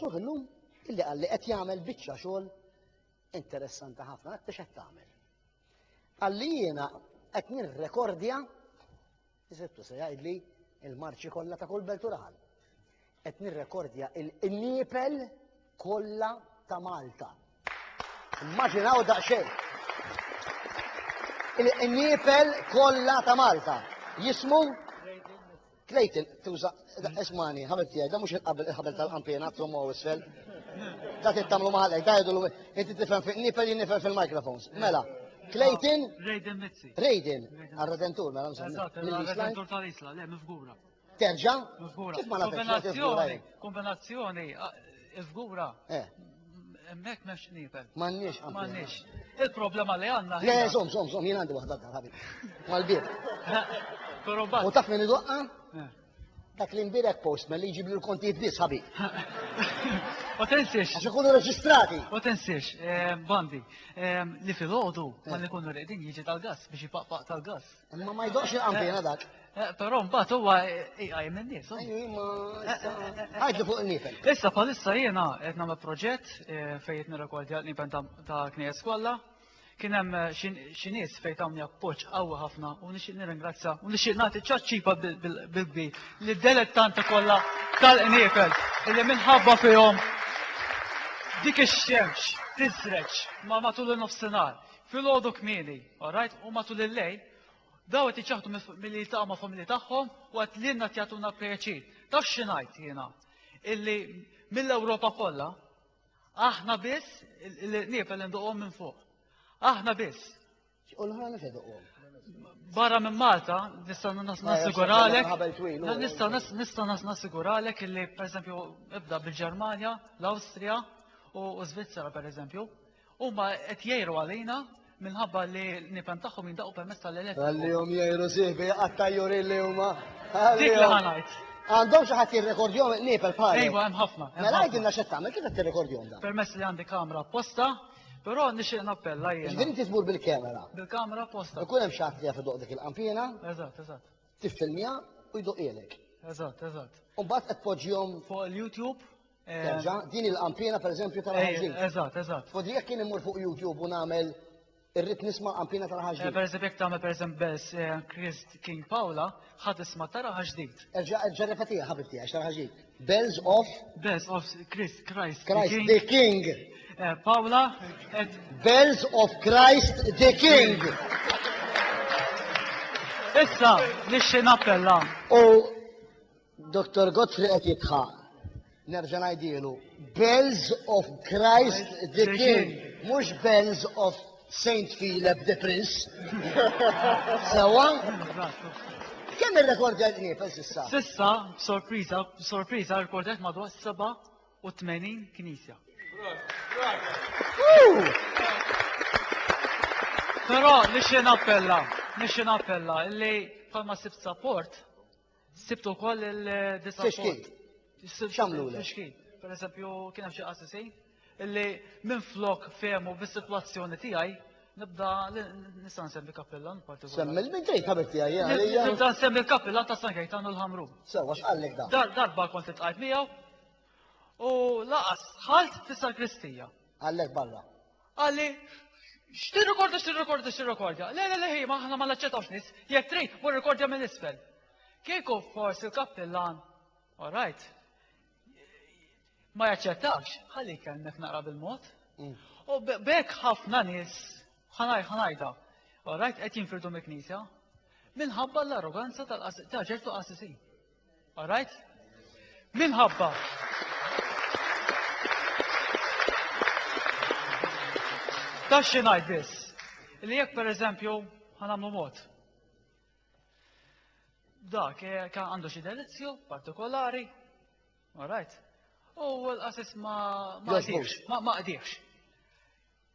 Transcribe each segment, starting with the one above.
Ruħ illum illi qal li qed jagħmel biċċa xogħol interessanti ħafna, għad biex qed tagħmel. Għalli jiena qed nirrekordja, jisibtu se jgħidli il-marċi kollha ta' kull beltural. Qed nirrekordja il-niepel kollha ta' Malta. Immaġinaw daqsxejn! Il-qniepel kollha ta' Malta jismu Clayton, tuża, ismani, ħabib tiegħi, da mhux il-ħabel tal-qampina, trommu għaw isfel. Da tittamlu maħalek, da jgħidu l inti tifhem fil nipel jien nifhem fil-mikrofons. Mela, Clayton. Raiden Mitzi. Raiden, għal-redentur, mela mżammi. Għal-redentur tal-isla, le, mifgura. Terġa? Żgura. Kif ma nafx, ma nafx, żgura, Kombinazzjoni, eh. kombinazzjoni, ah, żgura. Eh. Hemmhekk m'hemmx nibel. M'għandniex, għandna. M'għandniex. Il-problema li għandna Le, hija- zom, zom, zom, jien għandi waħda dar ħabib. Mal-bib. Però U mbagħad taf min idoqqa? Eh. Dak li mbirek postman li jġib li l-kontijiet biss ħabib. ma tensiex, Għax ikunu reġistrati. ma tensiex, eh, bandi, eh, li fil-ħodu ma li kunu reqdin jiġi tal-gas biex jipaqpaq tal-gas. Imma ma jdoqx il-qampina eh, dak. Eh, però mbagħad huwa iqajjem eh, in-nies. Ħadd li fuq in-nifel. Issa bħalissa jiena qed nagħmel proġett fejn qed nirrekordja l-nipen ta' knies kollha. Kien hemm xi nies fejn tawni appoġġ qawwi ħafna u nixtieq nirringrazzja u nixtieq nagħti ċaċċipa bil-kbir li delettanti kollha tal-qniefel illi minħabba fihom dik ix-xemx tiżreġ ma matul in-nofsinhar fil-għodu kmieni All right, u matul il-lejl, daw qed jiċaħdu milli jiltaqgħu ma' familji tagħhom u qed lilna qed jagħtuna pjaċir. Taf xi ngħid jiena? Illi mill-Ewropa kollha aħna biss il-qnieb li nduqhom minn fuq. Aħna biss. U l-ħra mhux iduqhom. Barra minn Malta, nista' nassiguralek. Nista' nista' nassiguralek illi pereżempju ibda bil-Ġermanja, l-Awstrija u Svizzera pereżempju. Huma qed jgħiru għalina minħabba li l-nipen tagħhom jindaqqu permezz tal-elettriku. Għallihom jgħiru sieħbi għat-tajjurin li huma. Dik li ħanajt. Għandhom xi ħadd jirrekordjhom nipel bħal. Ejwa hemm ħafna. Mela għidilna x'qed tagħmel kif qed tirrekordjhom dan. Permezz li għandi kamra apposta, Però nixtieq nappella jiena. Ġifieri inti tmur bil-kamera. Bil-kamera posta. Ikun hemm xi ħadd li jaf idoq dik il-qampiena. Eżatt, eżatt. Tiffilmja u jdoqilek. Eżatt, eżatt. U mbagħad qed tpoġġihom fuq il-YouTube. Terġa, din il-qampina pereżempju tal-ħaġġin. Eh, eżatt, eżatt. U jekk kien immur fuq YouTube u nagħmel irrid nisma' qampina tal-ħaġġin. Eh, pereżempju jekk tagħmel pereżempju Bells eh, Christ King Paula, ħad isma' tara ħaġdid. Erġa' erġa' repetija ħabibti għax tara ħaġdid. Bells of Bells of Christ Christ. Christ the King. Paula. Bells of Christ the King. Issa, nixxi nappella. U Dottor Godfrey qed jitħaq. Nerġa' ngħidielu, Bells of Christ the King, mhux Bells of Saint Philip the Prince. Sewa? Kemm ir-rekordja nifel sissa? Sissa, sorpriża, sorpriża, rekordjat madwar 87 knisja. Però nixxi nappella, nixxi nappella, illi palma sibt support Sibt ukoll il-disa. Fixkin. X'għamlulek? Fixkin. Per eżempju, kien hemm xi qassisi illi minn flok fehmu bis-sitwazzjoni tiegħi nibda nista' nsemmi kappillan partikolari. Semmi minn tgħid ħabib tiegħi għalija. Nibda nsemmi l-kappillan ta' San Kajtanu l-Ħamru. Sewwa x'qallek dan? Dar darba kont itqajt miegħu u laqas ħalt fis-sakristija. Għallek barra. Qalli, X'tirrikordja, x'tirrikordja, x'tirrikordja? Le, le, le, ħi, ma aħna ma naċċettawx nies. Jekk trid, mur rikordja minn isfel. Kieku forsi l-kappillan, all right, ma jaċċettax, ħalli jkellmek naqra bil-mod. U b'hekk ħafna nies, ħanaj, ħanajda, all right, qed jinfirdu mill-Knisja minħabba l-arroganza ta' ċertu qassisin. All right? Minħabba. Ta' xi ngħid biss. Li jekk pereżempju ħanamlu mod. Dak eh, kan għandu xi delizju partikolari. All right? U l-qasis ma ma qdirx, ma qdirx.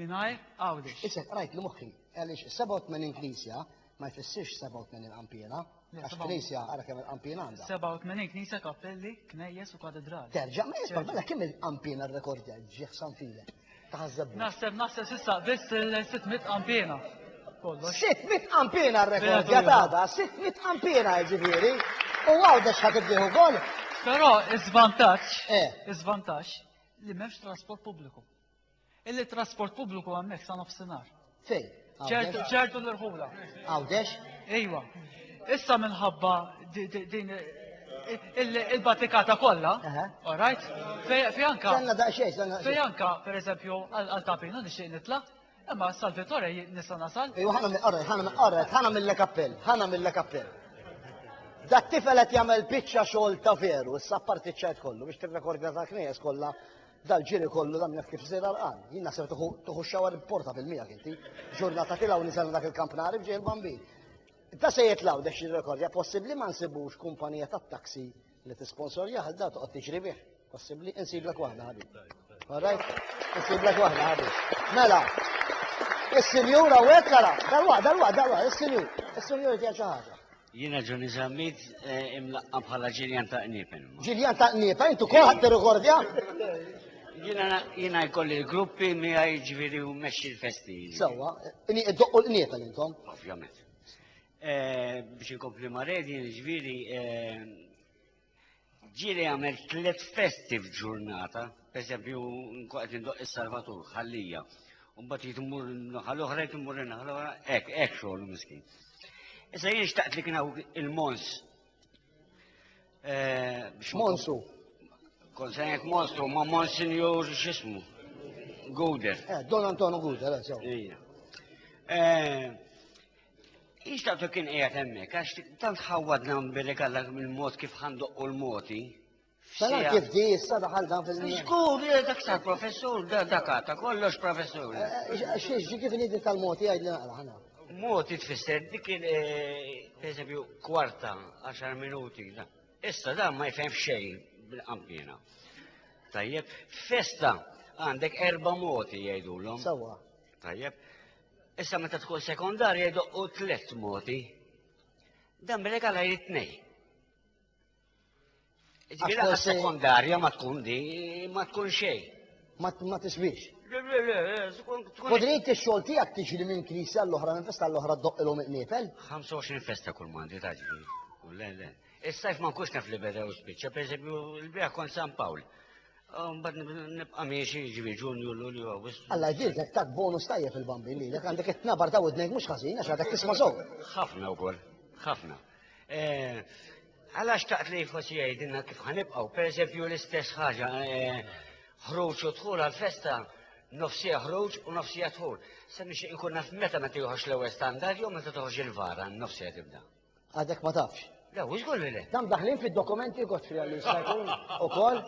Mingħajr Għawdex. Issa qrajt li moħħi, għaliex 87 knisja ma jfissirx 87 qanpiena, għax knisja ara kemm il-qanpiena għandha. 87 knisja, kappelli, knejjes u katedrali. Terġa' ma jisma' mela kemm il-qanpiena r-rekordja ġieħ San File. Taħseb. Naħseb naħseb s'issa biss il-600 qanpiena. 600 qanpiena r-rekordja tada, 600 qanpiena ġifieri. U Għawdex ħad ibdieħ ukoll. Però iż-żvantaġġ, eh. iż-żvantaġġ li m'hemmx trasport pubbliku. Illi trasport pubbliku hemmhekk sa nofsinhar. Fejn? Ċertu ċertu l-irħula. Għawdex? Ejwa. Issa minħabba din il-batikata kollha, all right? Fej anka. Għanna daqxej, għanna. Fej anka, per eżempju, għal tapina nixtieq nitla' imma Salvatore nista' nasal. Ejwa ħana mill-qorret, ħana mill-qorret, ħana mill-kappell, ħana mill-kappell. Dat tifel qed jagħmel biċċa xogħol ta' veru, issa parti ċajt kollu biex tirrekordja ta' knejjes kollha Dal-ġiri kollu dan jaf kif żejr għarqan. Jien naħseb tuħu tuħu x-xawar portabil miegħek inti. Ġurnata tilgħu niżel dak il-kamp nari b'ġej il-bambin. Da se jitlgħu dex jirrekordja possibbli ma nsibux kumpanija tat-taxi li tisponsorjah għal da toqgħod tiġri bih. Possibbli insiblek waħda ħabib. All right? Insiblek waħda ħabib. Mela, Is-sinjur hawnhekk ara, dalwa, dalwa, dalwa, is-sinjur. Is-sinjur jgħid xi ħaġa. Jiena Ġuni Zammit eh, imlaqqa bħala Ġiljan ta' Qniepen. Ġiljan ta' Qniepen, intu kol ħadd rekordja? Jiena jkolli l-gruppi miegħi ġifieri u mexxi l-festi. Sewwa, inni iddoqqu l-qniepen intom. Ovvjament. Eh, biex inkompli ma' redi, ġifieri eh, ġieli għamel tliet festi f'ġurnata, pereżempju nkun qed indoq is-Salvatur ħallija. u mbagħad jrid immur naħa l-oħra, jrid immur naħa l-oħra, hekk hekk xogħol miskin. Issa jien xtaqt li kien hawn il-Mons. Eh, biex ma- Monsu. Kont se ngħid Monstru ma' Monsinjur x'ismu. Guder. Eh, Don Antonio Guda, la sew. Ija. Eh, Ixtaqtu kien qiegħed hemmhekk għax tant ħawwadna billi kalla mill-mod kif ħandoqqu l-moti. Salam kif di issa daħal dan fil Żgur, eh, dak sar professur, dak għata kollox professur. Eh, eh, Xiex ġi kif nidi tal-moti għajd li naqra ħana. Moti tfisser dik il pereżempju kwarta 10 minuti. Issa dan ma jfhem xejn bil-qampina. Tajjeb, festa għandek erba' moti jgħidulhom. Sawa. Tajjeb, Issa meta tkun sekondarja jdoqqu tliet moti. Dan bil-legal għajr it-tnej. Ġbila għas sekondarja ma tkun di, ma tkun xej. Ma tisbix. Podrit il-xol tijak tiġri minn knisja l-oħra, minn festa l-oħra d-doq il-om iqnifel? 25 festa kull mandi taġri. Le, le. Is-sajf ma nkunx naf li beda u spiċċa, pereżempju l-biegħ kont San Pawl. Mbagħad nibqa' miexi ġivi Ġunju, Lulju, Awwissu. Alla jbierek tak bonus tajjeb il-bambin li lek għandek it-tnabar ta' widnejk mhux ħażin għax għadek tisma' sew. Ħafna wkoll, ħafna. Eh, Għala xtaqt li forsi jgħidilna kif ħanibqgħu, pereżempju l-istess ħaġa eh, ħruġ u dħul għal-festa nofsija ħruġ u nofsija dħul. Se nixtieq inkun naf meta meta joħroġ l-ewwel standard jew meta toħroġ il-vara nofsija tibda. Għadek ma tafx. Le, u xgur li le. Dam daħlin fid-dokumenti kot fija li jista' jkun ukoll.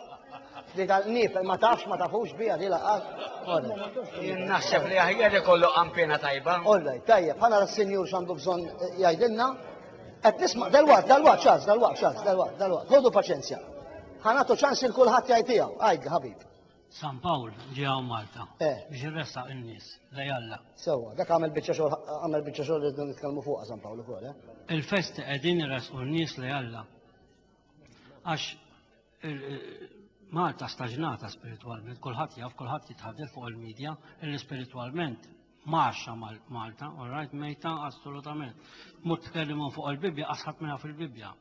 Li tal-qnib ma tafx ma tafux bija di laqgħat. Jien naħseb li aħjar ikollu qampina tajba. Olla, tajjeb, ħana s-sinjur x'għandu bżonn eh, jgħidilna. Qed nisma' dal-waqt, dal-waqt ċans, dal-waqt ċans, dal-waqt, dal-waqt. Ħodu paċenzja. Ħanatu ċans il kulħadd jgħid tiegħu. Għajd, ħabib. San Pawl ġie hawn Malta Eh. biex irressaq in-nies lej Alla. Sewwa, dak għamel biċċa xogħol għamel biċċa xogħol li rridu nitkellmu fuqha San Pawl ukoll, eh? Il-festi qegħdin iressqu n-nies lej Alla. Għax il- il- Malta staġnata spiritwalment, kulħadd jaf, kulħadd jitħaddel fuq il-media, illi spiritwalment Mgħaxxa Malta, all right, mejta assolutament. Mut tkellimu fuq il-Bibbja, asħat minna fil-Bibbja.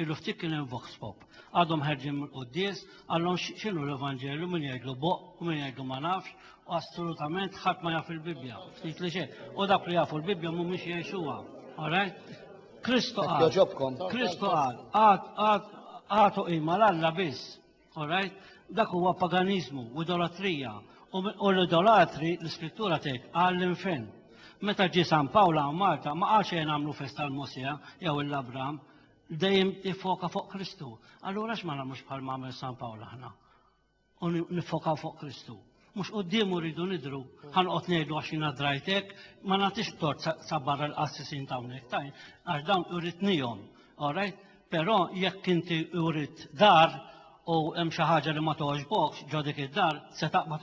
Illu ftit kien hemm vox pop. Għadhom ħerġin mill-quddies, għallhom x'inhu l-Evanġelju min jgħidlu boq u min jgħidlu ma nafx, u assolutament ħadd ma jaf il-Bibbja. Ftit li xejn. U dak li jafu l-Bibbja mhumiex jgħixuha. All right? Kristu qal. Kristu qal, għad għad għatu qima l-Alla biss. All right? Dak huwa paganiżmu u idolatrija. U mi- U l-idolatri, l-iskrittura tgħid, qal l-infern. Meta ġie San Pawl hawn Malta ma qalx ejja nagħmlu festa għal Mosè jew il Abram, dejjem jiffoka fuq Kristu. Allura x'ma nagħmlux bħal ma għamel San Pawl aħna? U ni- niffokaw fuq Kristu. Mhux quddiemu rridu nidhru, ħa noqgħod ngħidu għax jiena drajt hekk, ma nagħtix tort sa, sa barra l-qassisin ta' hawnhekk, ta' għax dawn uritnihom, all right? Però jekk inti urit dar u hemm xi ħaġa li ma togħġbokx ġo dik id-dar, se taqbad